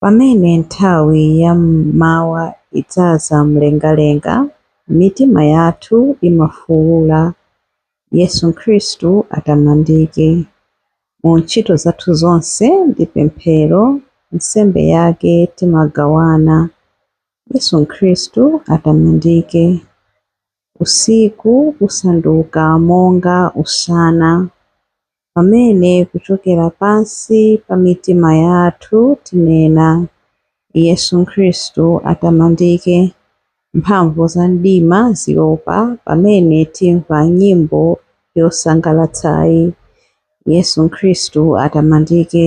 Pamene nthawi ya m'mawa idzaza mlengalenga, mitima yathu imafuula, Yesu Khristu atamandike. Mu ntchito zathu zonse ndi pemphero, nsembe yake timagawana, Yesu Khristu atamandike. usiku usanduka monga usana, pamene kuchokera pansi pa mitima yathu tinena, Yesu Khristu atamandike, mphamvu za mdima ziopa pamene timva nyimbo yosangalatsayi, Yesu Khristu atamandike,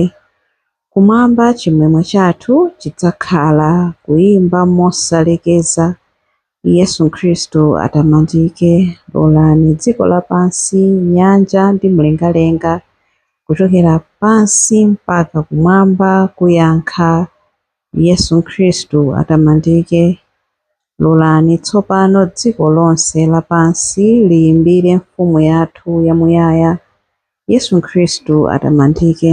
kumwamba chimwemwe chathu chidzakhala kuimba mosalekeza Yesu Khristu atamandike. Lolani dziko lapansi, nyanja ndi mlengalenga, kuchokera pansi mpaka kumwamba kuyankha, Yesu Khristu atamandike. Lolani tsopano dziko lonse lapansi liyimbire Mfumu yathu yamuyaya, Yesu Khristu atamandike.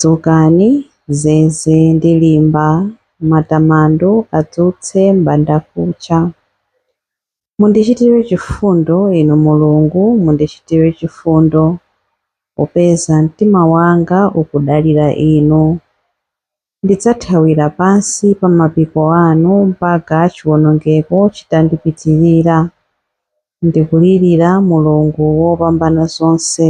Dzukani, zeze ndi limba, matamando adzutse m'bandakucha. Mundichitire chifundo, Inu Mulungu, mundichitire chifundo, popeza mtima wanga ukudalira Inu. Ndidzathawira pansi pa mapiko anu mpaka chiwonongeko chitandipitirira. Ndikulirira Mulungu Wopambanazonse,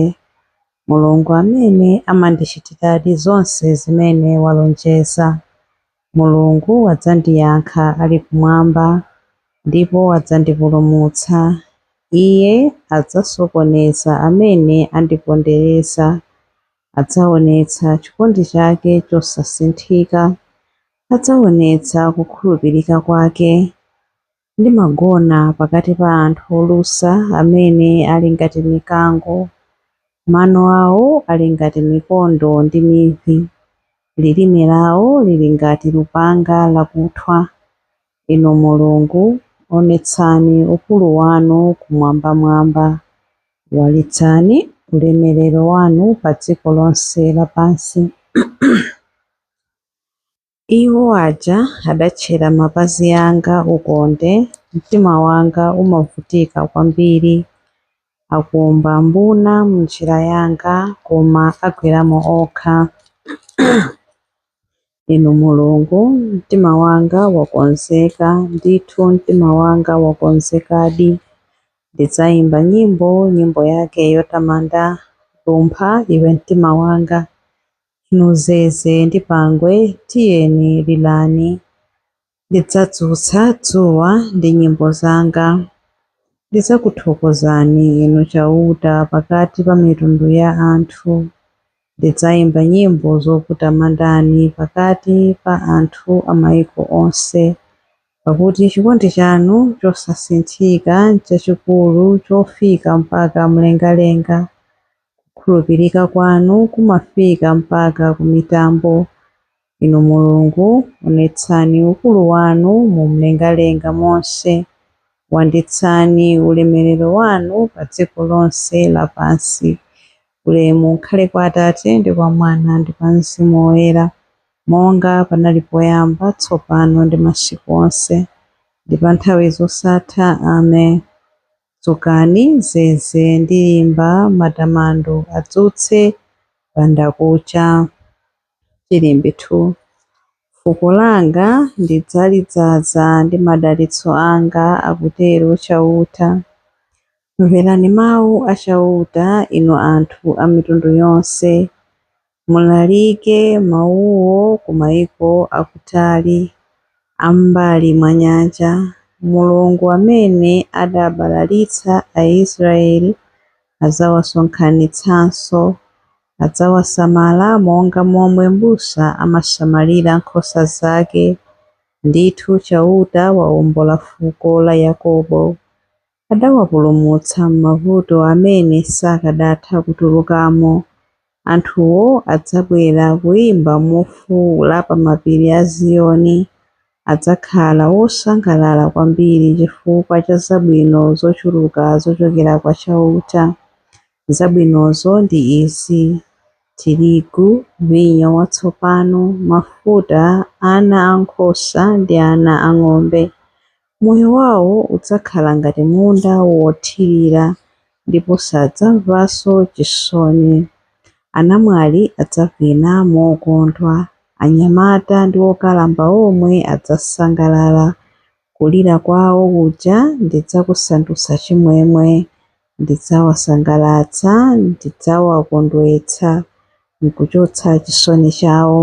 Mulungu amene amandichitiradi zonse zimene walonjeza. Mulungu adzandiyankha ali kumwamba ndipo adzandipulumutsa. Iye adzasokoneza amene andipondereza. Adzaonetsa chikondi chake chosasinthika. Adzaonetsa kukhulupirika kwake. Ndimagona pakati pa anthu olusa amene ali ngati mikango. Mano awo ali ngati mikondo ndi mivi. Lilime lawo lili ngati lupanga lakuthwa. Inu Mulungu, onetsani ukulu wanu kumwambamwamba. Walitsani ulemerero wanu padziko lonse lapansi. Iwo aja adatchera mapazi anga ukonde, mtima wanga umavutika kwambiri. Akumba mbuna m'njira yanga, koma agweramo okha. Inu Mulungu, mtima wanga wakonzeka, ndithu mtima wanga wakonzekadi. Ndidzaimba nyimbo, nyimbo yake yotamanda. Lumpha, iwe mtima wanga. Inu zeze ndi pangwe, tiyeni lirani. Ndidzadzutsa dzuwa ndi nyimbo zanga. Ndidzakuthokozani, Inu Chauta, pakati pa mitundu ya anthu. Ndidzaimba nyimbo zokutamandani pakati pa anthu a maiko onse, pakuti chikondi chanu chosasinthika nchachikulu chofika mpaka mlengalenga. Kukhulupirika kwanu kumafika mpaka ku mitambo. Inu Mulungu, onetsani ukulu wanu mu mlengalenga monse, wanditsani ulemerero wanu pa dziko lonse lapansi. Ulemu ukhale kwa Atate, ndi kwa Mwana, ndi kwa Mzimu Woyera, monga panali poyamba, tsopano, ndi masiku onse, ndi pa nthawi zosatha. Amen. Dzukani, zeze ndi limba matamando adzutse m'bandakucha. Chilimbi 2 Fuko langa ndidzalidzaza ndi madalitso anga, akutero Chauta. Mverani mau a Chauta, inu anthu a mitundu yonse. Mulalike mawuwo ku maiko akutali, a m'mbali mwa nyanja, Mulungu amene adabalalitsa Aisraele adzawasonkhanitsanso. Adzawasamala monga momwe mbusa amasamalira nkhosa zake. Ndithu Chauta waombola fuko la Yakobo. Adawapulumutsa m'mavuto amene sakadatha kutulukamo. Anthuwo adzabwera kuimba mofuula pa mapiri a Ziyoni. Adzakhala wosangalala kwambiri chifukwa cha zabwino zochuluka zochokera kwa Chauta. Zabwinozo ndi izi, tirigu, vinyo watsopano, mafuta, ana a nkhosa ndi ana a ng'ombe. Moyo wawo udzakhala ngati munda wothirira ndipo sadzamvanso chisoni. Anamwali adzavina mokondwa. Anyamata ndi okalamba omwe adzasangalala. Kulira kwawo kuja ndidzakusandutsa chimwemwe. Ndidzawasangalatsa, ndidzawakondwetsa n'kuchotsa chisoni chawo.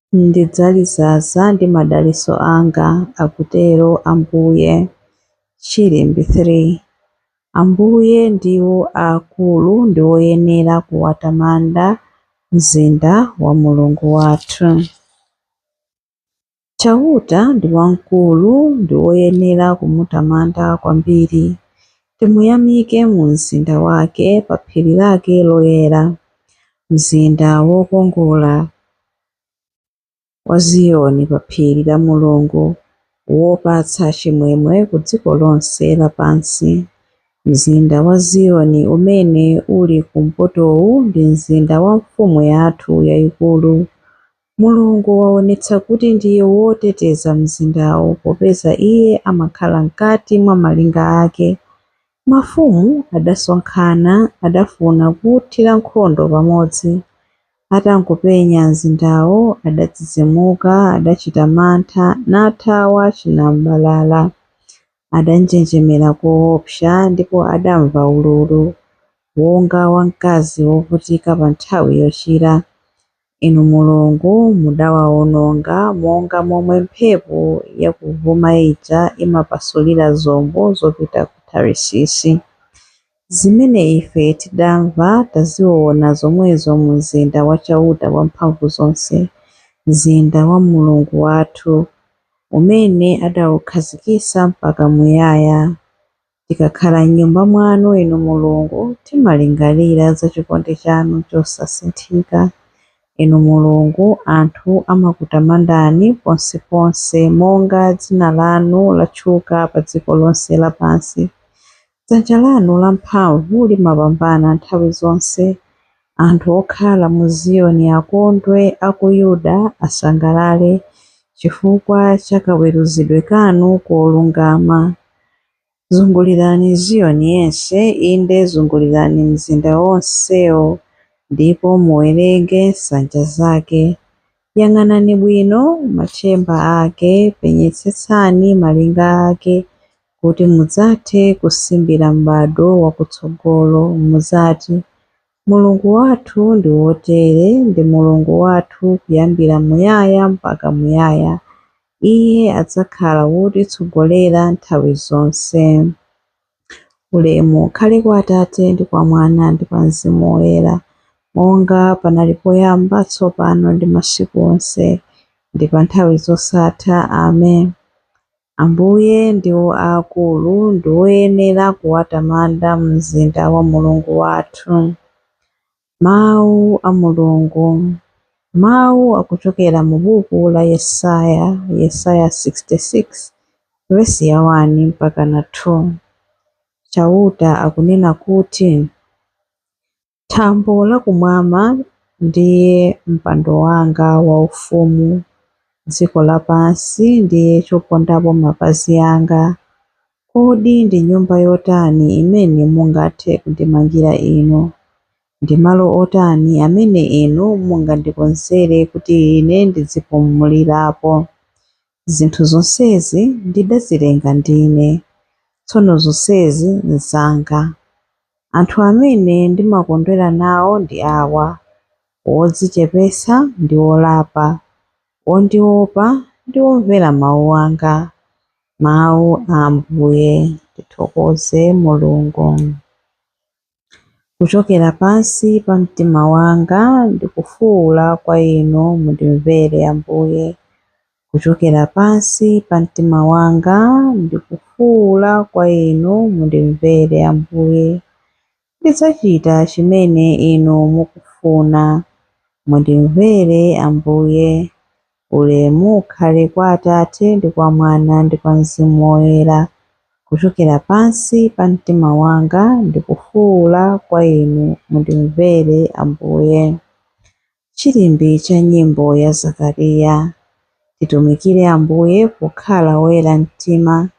Ndidzalizaza ndi madalitso anga, akutero Ambuye. Chilimbi 3. Ambuye ndiwo aakulu ndi woyenera kuwatamanda, mzinda wa Mulungu wathu. Chauta ndi wamkulu ndi woyenera kumutamanda kwambiri. Timuyamike mu mzinda wake, pa phiri lake loyera, mzinda wokongola. wa Ziyoni pa phiri la Mulungu wopatsa chimwemwe ku dziko lonse lapansi. Mzinda wa Ziyoni umene uli kumpotowu ndi mzinda wa Mfumu yathu yayikulu. Mulungu waonetsa kuti ndiye woteteza mzindawo popeza Iye amakhala mkati mwa malinga ake. Mafumu adasonkhana, adafuna kuuthira nkhondo pamodzi. Atangopenya mzindawo, adadzidzimuka, adachita mantha, nathawa chinam'balala. Adanjenjemera koopsa, ndipo adamva ululu, wonga wa mkazi wovutika pa nthawi yochira. Inu Mulungu mudawawononga monga momwe mphepo yakuvuma ija imapasulira zombo zopita ku Tarisisi, zimene ife tidamva taziona zomwezo mu mzinda wa Chauta Wamphamvuzonse, mzinda wa Mulungu wathu, umene adaukhazikitsa mpaka muyaya. Tikakhala m'Nyumba mwanu, Inu Mulungu, timalingalira za chikondi chanu chosasinthika. Inu Mulungu, anthu amakutamandani ponseponse, monga dzina lanu latchuka padziko lonse lapansi. Dzanja lanu lamphamvu limapambana nthawi zonse. Anthu okhala mu Ziyoni akondwe, a ku Yuda asangalale chifukwa cha kaweruzidwe kanu kolungama. Zungulirani Ziyoni yense, inde zungulirani mzinda wonsewo, ndipo muwerenge nsanja zake. Yang'anani bwino machemba ake, penyetsetsani malinga ake, kuti mudzathe kusimbira m'bado wakutsogolo, mudzati, Mulungu wathu ndi wotere, ndi Mulungu wathu kuyambira muyaya mpaka muyaya. Iye adzakhala wotitsogolera nthawi zonse. Ulemu ukhale kwa Atate, ndi kwa Mwana, ndi kwa Mzimu Woyera, monga panali poyamba, tsopano, ndi masiku onse, ndi pa nthawi zosatha. Amen. Ambuye ndiwo aakulu ndi woyenera kuwatamanda mzinda wa Mulungu wathu. Mawu a Mulungu Mawu akuchokera mu buku la Yesaya, Yesaya 66, vesi ya 1 mpaka na 2. Chauta akunena kuti, Thambo la kumwamba ndiye mpando wanga waufumu, dziko lapansi ndiye chopondapo mapazi anga. Kodi ndi nyumba yotani imene mungathe kundimangira Inu? Ndi malo otani amene Inu mungandikonzere kuti ine ndidzipumulirapo? Zinthu zonsezi ndidazilenga ndine, tsono zonsezi nzanga. Anthu amene ndimakondwera nawo ndi awa, wodzichepetsa ndi wolapa, wondiopa ndi womvera mau anga. Mau a Ambuye. Tithokoze Mulungu. Kuchokera pansi pa mtima wanga ndikufuwula kwa Inu, mundimvere Ambuye. Kuchokera pansi pa mtima wanga ndikufuwula kwa Inu, mundimvere Ambuye. Ndidzachita chimene Inu mukufuna. Mundimvere Ambuye. Ulemu ukhale kwa Atate, ndi kwa Mwana, ndi kwa Mzimu Woyera, kuchokera pansi pa mtima wanga ndikufuula kwa Inu, mundimvere, Ambuye. Chilimbi cha Nyimbo ya Zakariya. Titumikire Ambuye pokhala oyera mtima,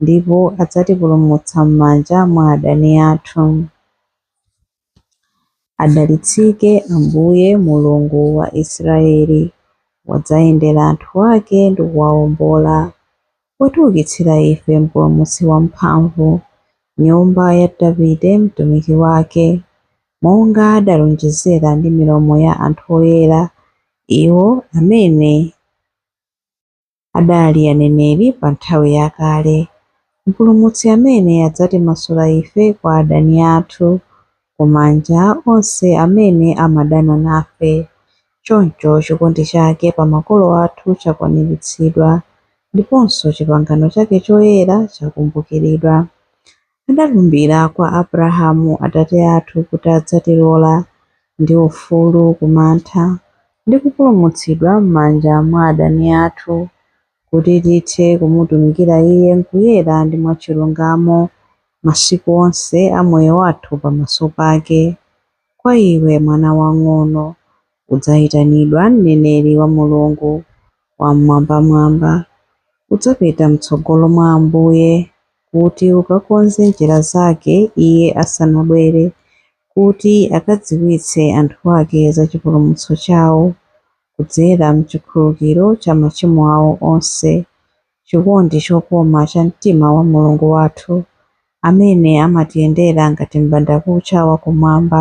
ndipo adzatipulumutsa m'manja mwa adani athu. Adalitsike Ambuye, Mulungu wa Israyeli, wadzayendera anthu ake ndi kuwawombola, watiukitsira ife Mpulumutsi wamphamvu, nyumba ya Davide mtumiki wake, monga adalonjezera ndi milomo ya anthu oyera, iwo amene. adali aneneri pa nthawi yakale, Mpulumutsi amene adzatimasula ife kwa adani athu, ku manja a onse amene amadana nafe. Choncho chikondi chake pa makolo athu chakwaniritsidwa, ndiponso chipangano chake choyera chakumbukiridwa. Adalumbira kwa Abrahamu atate athu kuti adzatilola ndi ufulu ku mantha, ndi kupulumutsidwa m'manja mwa adani athu, kuti tithe kumutumikira Iye m'kuyera ndi mwachilungamo masiku onse a moyo wathu pamaso pake. Kwa iwe, mwana wamng'ono, Udzayitanidwa mneneri wa Mulungu Wam'mwambamwamba, udzapita mtsogolo mwa Ambuye, kuti ukakonze njira Zake Iye asanabwere, kuti akadziwitse anthu Ake za chipulumutso chawo, kudzera m'chikhululukiro cha machimo awo onse, chikondi chokoma cha mtima wa Mulungu wathu, amene amatiyendera ngati m'bandakucha wa Kumwamba.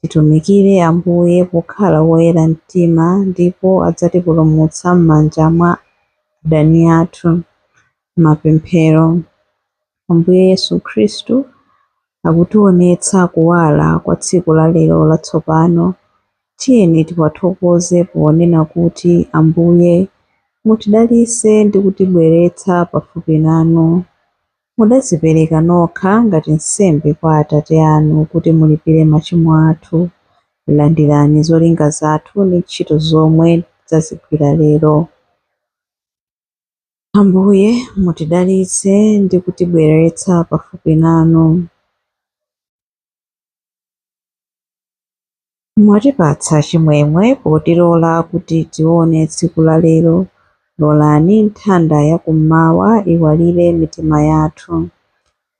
Titumikire Ambuye pokhala woyera mtima ndipo adzatipulumutsa m'manja mwa adani athu. Mapemphero. Ambuye Yesu Khristu akutionetsa kuwala kwa tsiku la lero latsopano. Tiyeni tiwathokoze ponena kuti, Ambuye, mutidalitse ndi kutibweretsa pafupi nanu. Mudadzipereka nokha ngati nsembe kwa Atate anu kuti mulipire machimo athu. Landirani zolinga zathu ndi ntchito zomwe tidzazigwira lero. Ambuye, mutidalitse ndi kutibweretsa pafupi nanu. Mwatipatsa chimwemwe potilola kuti tione tsiku la lero. Lolani nthanda ya kummawa iwalire mitima yathu.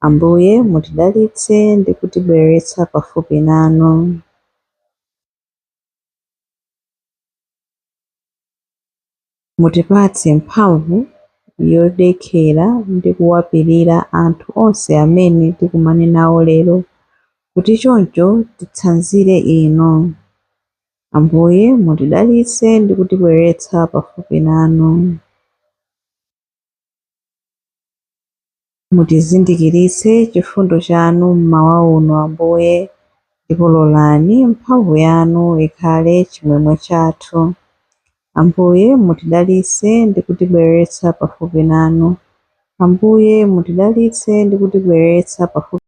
Ambuye, mutidalitse ndi kutibweretsa pafupi nanu. Mutipatse mphamvu yodekera ndi kuwapirira anthu onse amene tikumane nawo lero kuti choncho titsanzire Inu. Ambuye, mutidalitse ndi kutibweretsa pafupi nanu. Mutizindikiritse chifundo chanu mmawa uno, Ambuye, ndipo lolani mphamvu yanu ikhale chimwemwe chathu. Ambuye, mutidalitse ndi kutibweretsa pafupi nanu. Ambuye, mutidalitse ndi kutibweretsa pafupi